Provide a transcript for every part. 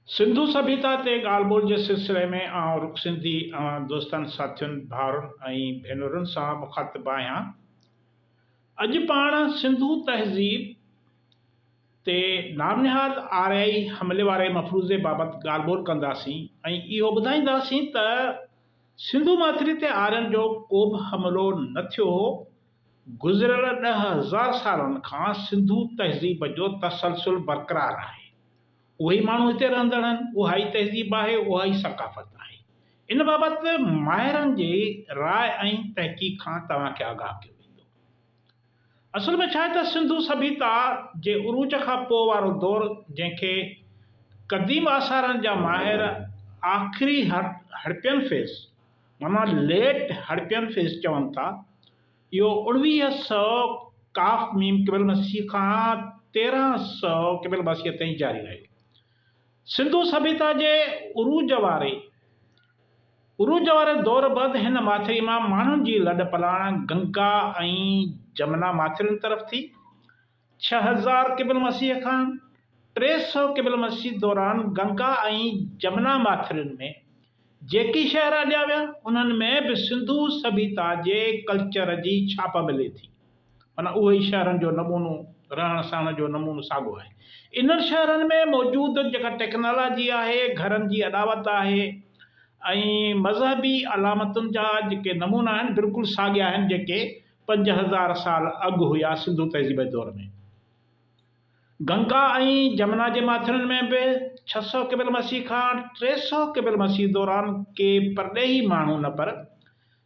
سنڌو سڀيتا تي ڳالهه ٻولهه جي سلسلي ۾ آئون رخ سنڌي اوهان دوستن، ساٿين، ڀائرن ۽ ڀينرن سان مخاطب آهيان. اڄ پاڻ سنڌو تهذيب تي نامنهاد آريائي حملي واري مفروضي بابت ڳالهه ٻولهه ڪنداسين ۽ اهو ٻڌائينداسين ته سنڌو ماٿري تي آرين جو ڪوبه حملو نه ٿيو هو، گذريل ڏهه هزار سالن کان سنڌو تهذيب جو تسلسل برقرار آهي. اهي ئي ماڻهو هتي رهندڙ آهن، اها ئي تهذيب آهي، اها ئي ثقافت آهي. ان بابت ماهرن جي راء ۽ تحقيق کان توهان کي آگاهه ڪيو ويندو. اصل ۾ ڇا آهي ته سنڌو سڀيتا جي عروج کان پوء وارو دور جنهن کي قديم آثارن جا ماهر آخري هڙپين فيز، ماما ليٽ هڙپين فيس چون ٿا. اهو اڻويهه سؤ ق م قبل مسيح کان تيرهن سؤ قبل مسيح تائين جاري رهيو. سنڌو سڀيتا جي عروج واري عروج واري دور بعد هن ماٿري مان ماڻهن جي لڏ پلاڻ گنگا ۽ جمنا ماٿرين طرف ٿي. ڇهه هزار قبل مسيح کان ٽي سؤ قبل مسيح دوران گنگا ۽ جمنا ماٿرين ۾ جيڪي شهر اڏيا ويا، انهن ۾ به سنڌو سڀيتا جي ڪلچر جي ڇاپ ملي ٿي. معنيٰ اهو ئي شهرن جو نمونو، رهڻ سهڻ جو نمونو ساڳو آهي. انهن شهرن ۾ موجود جيڪا ٽيڪنالاجي آهي، گهرن جي اڏاوت آهي ۽ مذهبي علامتن جا جيڪي نمونا آهن، بلڪل ساڳيا آهن جيڪي پنج هزار سال اڳ هيا سنڌو تهذيب جي دور ۾. گنگا ۽ جمنا جي ماٿرين ۾ به ڇهه سؤ قبل مسيح کان ٽي سؤ قبل مسيح دوران ڪي پرڏيهي ماڻهو نه پر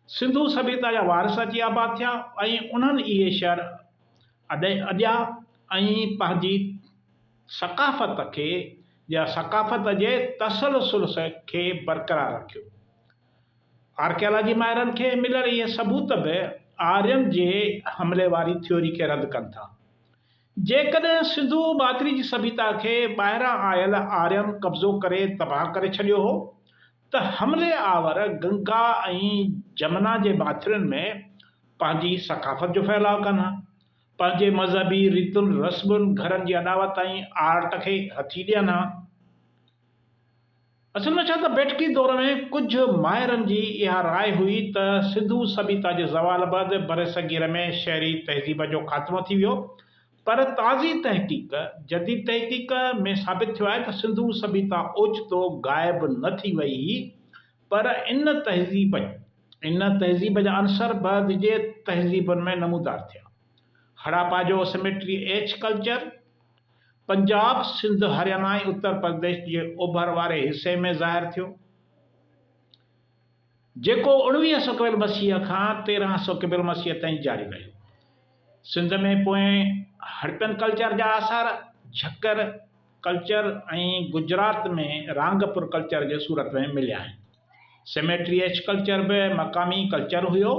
سنڌو سڀيتا جا وارث اچي آباد ٿيا ۽ انهن اهي شهر اڏيا ۽ پنهنجي ثقافت کي يا ثقافت جي تسلسل کي برقرار رکيو. آرڪيالاجي ماهرن کي مليل اهي ثبوت به آرين جي حملي واري ٿيوري کي رد ڪن ٿا. جيڪڏهن سنڌو ماٿري جي سڀيتا کي ٻاهران آيل آرين قبضو ڪري تباهه ڪري ڇڏيو هو ته حملي آور گنگا ۽ جمنا جي ماٿرين ۾ پنهنجي ثقافت جو ڦهلاء ڪن ها، پنهنجي مذهبي ريتن رسمن، گهرن جي اڏاوت ۽ آرٽ کي هٿي ڏين ها. اصل ۾ ڇا ته بيٺڪي دور ۾ ڪجهه ماهرن جي اها راء هئي ته سنڌو سڀيتا جي زوال بعد برصغير ۾ شهري تهذيب جو خاتمو ٿي ويو پر تازي تحقيق، جديد تحقيق، ۾ ثابت ٿيو آهي ته سنڌو سڀيتا اوچتو غائب نه ٿي وئي هئي پر ان تهذيب ان تهذيب جا عنصر بعد جي تهذيبن ۾ نمودار ٿيا. هڙاپا جو cemetery H culture, Punjab, Sindh, Haryana ۽ Uttar Pradesh جي اوڀر واري حصي ۾ ظاهر ٿيو، جيڪو اڻويهه سؤ قبل مسيح کان تيرهن سؤ قبل مسيح تائين جاري رهيو. سنڌ ۾ پوئين هڙپين ڪلچر جا آثار جهڪر ڪلچر ۽ گجرات ۾ رانگپور ڪلچر جي صورت ۾ مليا آهن. سميٽريئچ ڪلچر به مقامي ڪلچر هيو،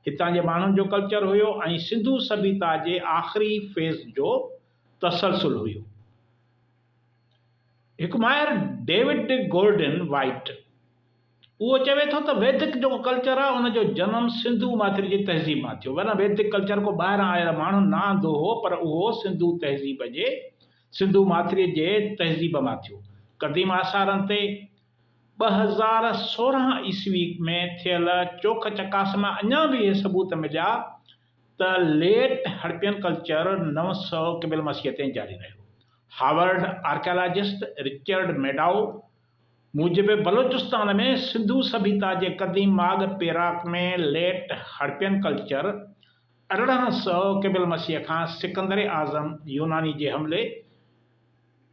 هتان جي ماڻهن جو ڪلچر هيو ۽ سنڌو سڀيتا جي آخري فيز جو تسلسل هيو. هڪ ماهر ڊيوڊ گورڊن وائيٽ اهو چوي ٿو ته ويدڪ جيڪو ڪلچر آهي ان جو جنم سنڌو ماٿري جي تهذيب مان ٿيو ورنه ويدڪ ڪلچر ڪو ٻاهران آيل ماڻهو نه آندو هو پر اهو سنڌو تهذيب جي سنڌو ماٿري جي تهذيب مان ٿيو قديم آثارن تي ٻه هزار سورهن عيسوي ۾ ٿيل چوک چڪاس مان اڃا به اهي ثبوت مليا ته ليٽ هڙپين ڪلچر نو سؤ قبل مسيح تائين جاري رهيو. هارورڊ آرڪيالاجسٽ رچرڊ ميڊائو موجب بلوچستان ۾ سنڌو سڀيتا جي قديم ماڳ پيراڪ ۾ ليٽ هڙپين ڪلچر ارڙهن سؤ قبل مسيح کان سڪندر اعظم يوناني جي حملي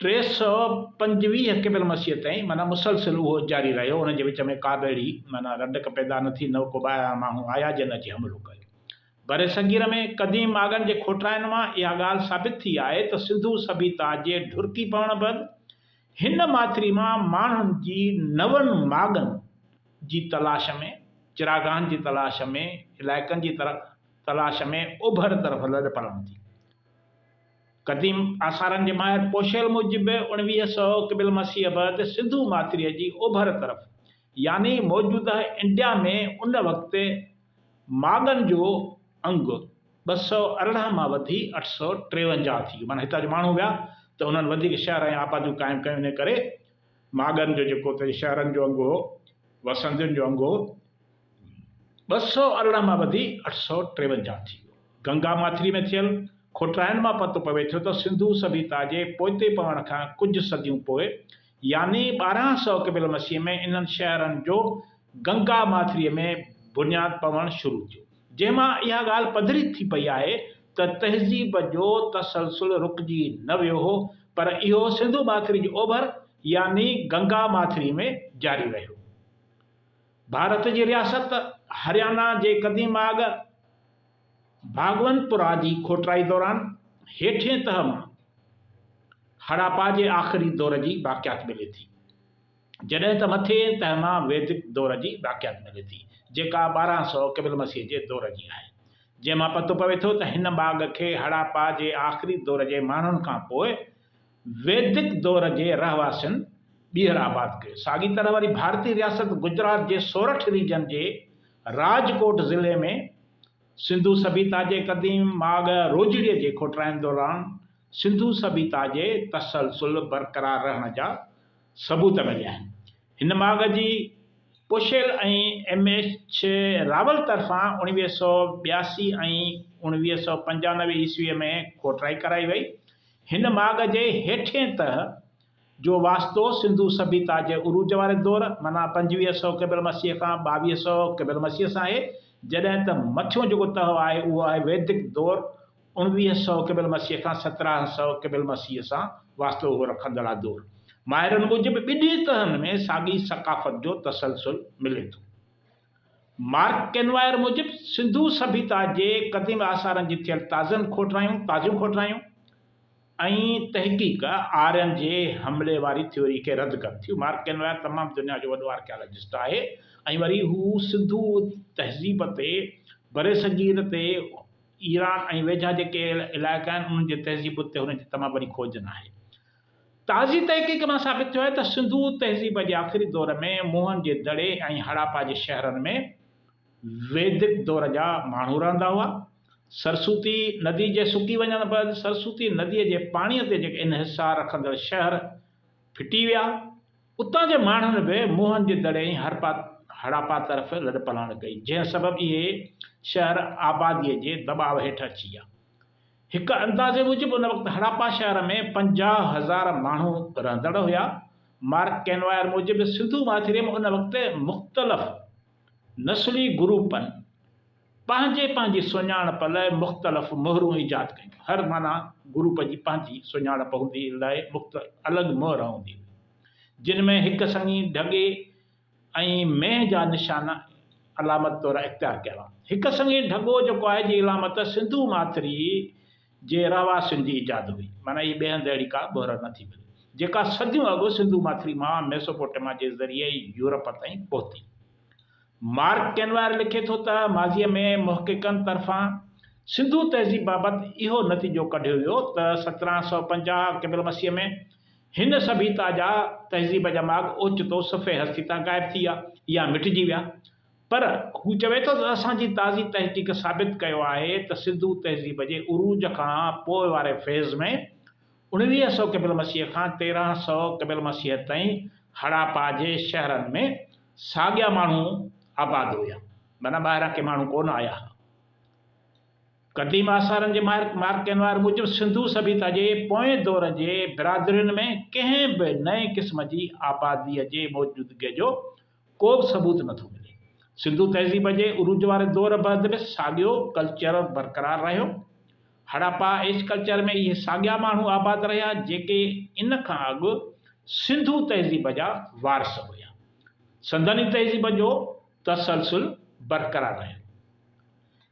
ٽي سؤ پنجويهه قبل مسيح تائين معنيٰ مسلسل اهو جاري رهيو، ان جي وچ ۾ ڪابه اهڙي معنيٰ رنڊڪ پيدا نه ٿي، نه ڪو ٻاهران ماڻهو آيا جن اچي حملو ڪيو. برصغير ۾ قديم ماڳن جي کوٽرائن مان اها ڳالهه ثابت ٿي آهي ته سنڌو سڀيتا جي ڍرڪي پوڻ بعد هن ماٿري مان ماڻهن جي نون ماڳن جي تلاش ۾ چراگاهن جي تلاش ۾ علائقن جي تلاش ۾ اوڀر طرف لڏپلاڻ ٿي. قديم آثارن جي ماهر پوشيل موجب اڻويهه سؤ قبل مسيح بعد سنڌو ماٿريء جي اوڀر طرف يعني موجوده انڊيا ۾ ان وقت ماڳن جو انگ ٻه سؤ ارڙهن مان وڌي اٺ سؤ ٽيونجاهه ٿي ويو معنيٰ هتان جو ماڻهو ويا ته انهن وڌيڪ شهر ۽ آباديون قائم ڪيون انهيء ڪري ماڳن جو جيڪو اتي شهرن جو انگ هو، وسندين جو انگ هو، ٻه سؤ ارڙهن مان وڌي اٺ سؤ ٽيونجاهه ٿي ويو. گنگا ماٿري ۾ ٿيل کوٽائن مان پتو پوي ٿو ته سنڌو سڀيتا جي پوئتي پوڻ کان ڪجهه صديون پوء يعني ٻارهن سؤ قبل مسيح ۾ انهن شهرن جو گنگا ماٿريء ۾ بنياد پوڻ شروع ٿيو. جنهن مان اها ڳالهه پڌري ٿي پئي آهي ته تهذيب جو تسلسل رڪجي نه ويو هو پر اهو سنڌو ماٿري جي اوڀر يعني گنگا ماٿري ۾ جاري رهيو. ڀارت جي رياست هريانا جي قديم آڳ ڀاڳونپورا جي کوٽرائي دوران هيٺين تهه مان هڙاپا جي آخري دور جي باقيات ملي ٿي. جڏهن ته مٿين تهه مان ويدڪ دور جي باقيات ملي ٿي، جيڪا ٻارهن سؤ قبل المسيح جي دور جي آهي، جنهن مان پتو پوي ٿو ته هن باغ کي هڙاپا جي آخري دور جي ماڻهن کان پوء ويدڪ دور جي رهواسين ٻيهر آباد ڪيو. ساڳي طرح وري ڀارتي رياست گجرات جي سورٺ ريجن جي راجڪوٽ ضلعي ۾ سنڌو سڀيتا جي قديم ماڳ روجڙي جي کوٽرائن دوران سنڌو سڀيتا جي تسلسل برقرار رهڻ جا ثبوت مليا آهن. هن ماڳ جي پوشيل ۽ ايم ايڇ راول طرفان اوڻويهه سؤ ٻياسي ۽ اوڻويهه سؤ پنجانوي عيسويء ۾ کوٽرائي ڪرائي وئي. هن ماڳ جي هيٺئين تهه جو واسطو سنڌو سڀيتا جي عروج واري دور معنيٰ پنجويهه سؤ قبل مسيح کان ٻاويهه سؤ قبل مسيح سان آهي، جڏهن ته مٿيون جيڪو تهه آهي اهو آهي ويدڪ دور اڻويهه سؤ قبل مسيح کان سترهن سؤ قبل مسيح سان واسطو اهو رکندڙ ادور ماهرن موجب ٻنهي تهن ۾ ساڳي ثقافت جو تسلسل ملي ٿو. مارڪ ڪينوائر موجب سنڌو سڀيتا جي قديم آثارن جي ٿيل تازن کوٽرايون تازيون کوٽرايون ۽ تحقيق آرين جي حملي واري ٿيوري کي رد ڪن ٿيون. مارڪ ڪينوائر تمام دنيا جو وڏو آرڪيالاجسٽ آهي ۽ وري هو سنڌو تهذيب تي برصغير تي ايران ۽ ويجها جيڪي علائقا آهن، انهن جي تهذيب اتي هئڻ جي تمام وڏي کوجن آهي. تازي تحقيق مان ثابت ٿيو آهي ته سنڌو تهذيب جي آخري دور ۾ موهن جي دڙي ۽ هڙاپا جي شهرن ۾ ويدڪ دور جا ماڻهو رهندا هئا. سرسوتي ندي جي سڪي وڃڻ بعد سرسوتي نديء جي پاڻيء تي جيڪي انحصار رکندڙ شهر ڦٽي ويا. اتان جي ماڻهن به موهن جي دڙي ۽ هڙاپا طرف لڏپلاڻ ڪئي، جنهن سبب اهي شهر آباديء جي دٻاء هيٺ اچي ويا. هڪ اندازي موجب ان وقت هڙاپا شهر ۾ پنجاهه هزار ماڻهو رهندڙ هيا. مارڪ ڪينواير موجب سنڌو ماٿري ۾ ان وقت مختلف نسلي گروپن، پنهنجي پنهنجي سڃاڻپ لاء مختلف مهرون ايجاد ڪيون. هر معنيٰ گروپ جي پنهنجي سڃاڻپ هوندي لاء مختلف الڳ مهر هوندي هئي، جن ۾ هڪ سڱي، ڍڳي ۽ مينهن جا نشان علامت طور اختيار ڪيا هئا. هڪ سڱي، ڍڳو، جيڪو آهي جي علامت سنڌو ماٿري جي رهواسين جي ايجاد هئي، معنيٰ اهي ٻئي هنڌ اهڙي ڪا مهر نه ٿي ملي، جيڪا صديون اڳ سنڌو ماٿري مان ميسوپوٽيما جي ذريعي يورپ تائين پهتي. مارڪ ڪينوائر لکي ٿو ته ماضيء ۾ محققن طرفان سنڌو تهذيب بابت اهو نتيجو ڪڍيو ويو ته سترهن سؤ پنجاهه قبل مسيح ۾ هن سڀيتا جا تهذيب جا ماڳ اوچتو صفحي هستي تان غائب ٿي ويا يا مٽجي ويا پر هو چوي ٿو ته اسان جي تازي تحقيق ثابت ڪيو آهي ته سنڌو تهذيب جي عروج کان پوء واري فيز ۾ اڻويهه سؤ قبل مسيح کان تيرهن سؤ قبل مسيح تائين هڙاپا جي شهرن ۾ ساڳيا ماڻهو آباد هيا، معنيٰ ٻاهران ڪي ماڻهو ڪونه آيا ها. قديم آثارن جي ماهر مارڪ ڪينوار موجب سنڌو سڀيتا جي پوئين دور جي برادرين ۾ ڪنهن به نئين قسم جي آباديء جي موجودگيء جو ڪو به ثبوت نه ٿو ملي. سنڌو تهذيب جي عروج واري دور بعد به ساڳيو ڪلچر برقرار رهيو. هڙاپا ايج ڪلچر ۾ اهي ساڳيا ماڻهو آباد رهيا جيڪي ان کان اڳ سنڌو تهذيب جا وارث هيا. سندن ئي تهذيب جو تسلسل برقرار رهيو.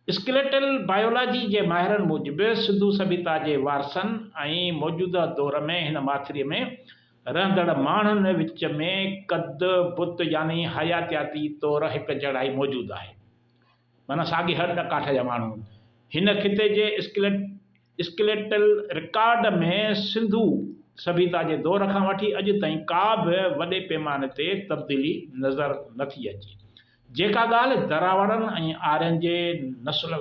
اسڪيليٽل بايولاجي جي ماهرن موجب سنڌو سڀيتا جي وارثن ۽ موجوده دور ۾ هن ماٿري ۾ رهندڙ ماڻهن وچ ۾ قد بت يعني حياتياتي طور هڪجهڙائي موجود آهي. معنيٰ ساڳي هڏ ڪاٺ جا ماڻهو. هن خطي جي اسڪليٽل رڪارڊ ۾ سنڌو سڀيتا جي دور کان وٺي اڄ تائين ڪا به وڏي پيماني تي تبديلي نظر نه ٿي اچي. جيڪا ڳالهه دراوڙن ۽ آرين جي نسل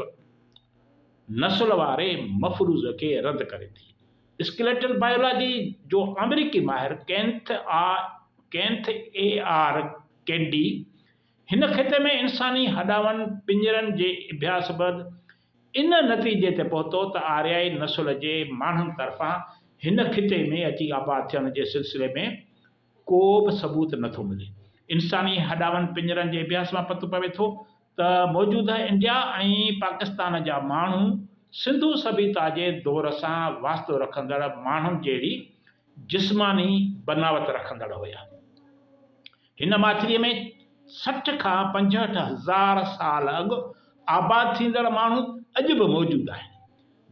نسل واري مفروض کي رد ڪري ٿي. اسڪيليٽل بائيولاجي جو آمريڪي ماهر Kenneth A Kenneth AR Kendy هن خطي ۾ انساني هڏاون پڃرن جي اڀياس بعد ان نتيجي تي پهتو ته آريائي نسل جي ماڻهن طرفان هن خطي ۾ اچي آباد ٿيڻ جي سلسلي ۾ ڪوبه ثبوت نٿو ملي انساني هڏاون پڃرن جي اڀياس مان پتو پوي ٿو ته موجوده انڊيا ۽ پاڪستان جا ماڻهو سنڌو سڀيتا جي دور سان واسطو رکندڙ ماڻهن جهڙي جسماني بناوت رکندڙ هيا. هن ماٿريء ۾ سٺ کان پنجهٺ هزار سال اڳ آباد ٿيندڙ ماڻهو اڄ به موجود آهن.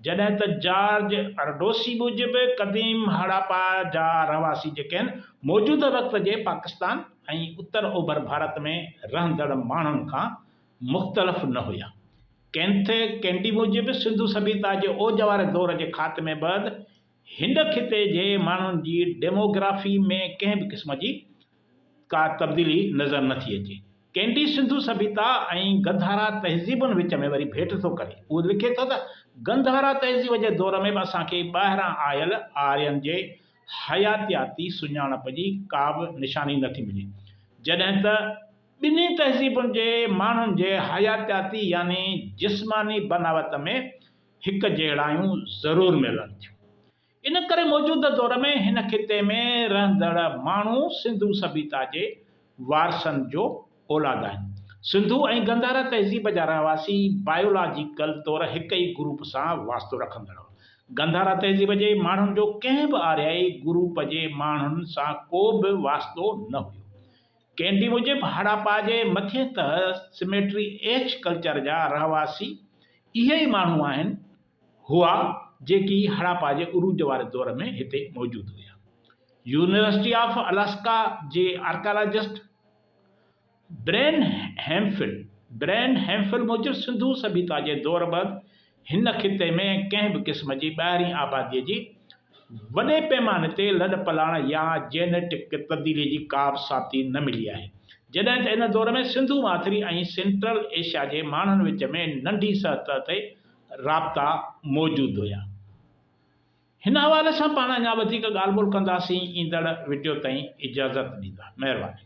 جڏهن ته جارج ارڊوسي موجب قديم هڙاپا جا رهواسي جيڪي آهن موجوده وقت جي پاڪستان ۽ اتر اوڀر ڀارت ۾ رهندڙ ماڻهن کان مختلف نه هيا. ڪينٿ ڪينڊي موجب سنڌو سڀيتا جي اوج واري دور جي خاتمي بعد هن خطي جي ماڻهن جي ڊيموگرافي ۾ ڪنهن به قسم جي ڪا تبديلي نظر نه ٿي اچي. ڪينڊي سنڌو سڀيتا ۽ گنڌارا تهذيبن وچ ۾ وري ڀيٽ ٿو ڪري. هو لکي ٿو ته، گنڌارا تهذيب جي دور ۾ به اسان کي ٻاهران آيل آرين جي حياتياتي سڃاڻپ جي ڪابه نشاني نه ٿي ملي، جڏهن ته ٻنهي تهذيبن جي ماڻهن جي حياتياتي يعني جسماني بناوت ۾ هڪجهڙايون ضرور ملن ٿيون. ان ڪري موجوده دور ۾ هن خطي ۾ رهندڙ ماڻهو سنڌو سڀيتا جي وارثن جو اولاد آهن. سنڌو ۽ گنڌارا تهذيب جا رهواسي بايولاجيڪل طور هڪ ئي گروپ سان واسطو رکندڙ هئا. گنڌارا تهذيب جي ماڻهن جو ڪنهن به آريائي گروپ جي ماڻهن سان ڪو به واسطو نه هيو. ڪينڊي موجب هڙاپا جي مٿين تهه سميٽري ايڇ ڪلچر جا رهواسي اهي ئي ماڻهو آهن، هئا جيڪي هڙاپا جي عروج واري دور ۾ هتي موجود هيا. يونيورسٽي آف الاسڪا جي archaeologist Brian Hemphill, Brian Hemphill، موجب سنڌو سڀيتا جي دور بعد هن خطي ۾ ڪنهن به قسم جي ٻاهرين آباديء جي وڏي پيماني تي لڏپلاڻ يا جينيٽڪ تبديلي جي ڪابه ساٿي نه ملي آهي جڏهن ته ان دور ۾ سنڌو ماٿري ۽ سينٽرل ايشيا جي ماڻهن وچ ۾ ننڍي سطح تي رابطا موجود هيا. هن حوالي سان پاڻ اڃا وڌيڪ ڳالهه ٻولهه ڪنداسين ايندڙ وڊيو تائين اجازت ڏيندا. مهرباني.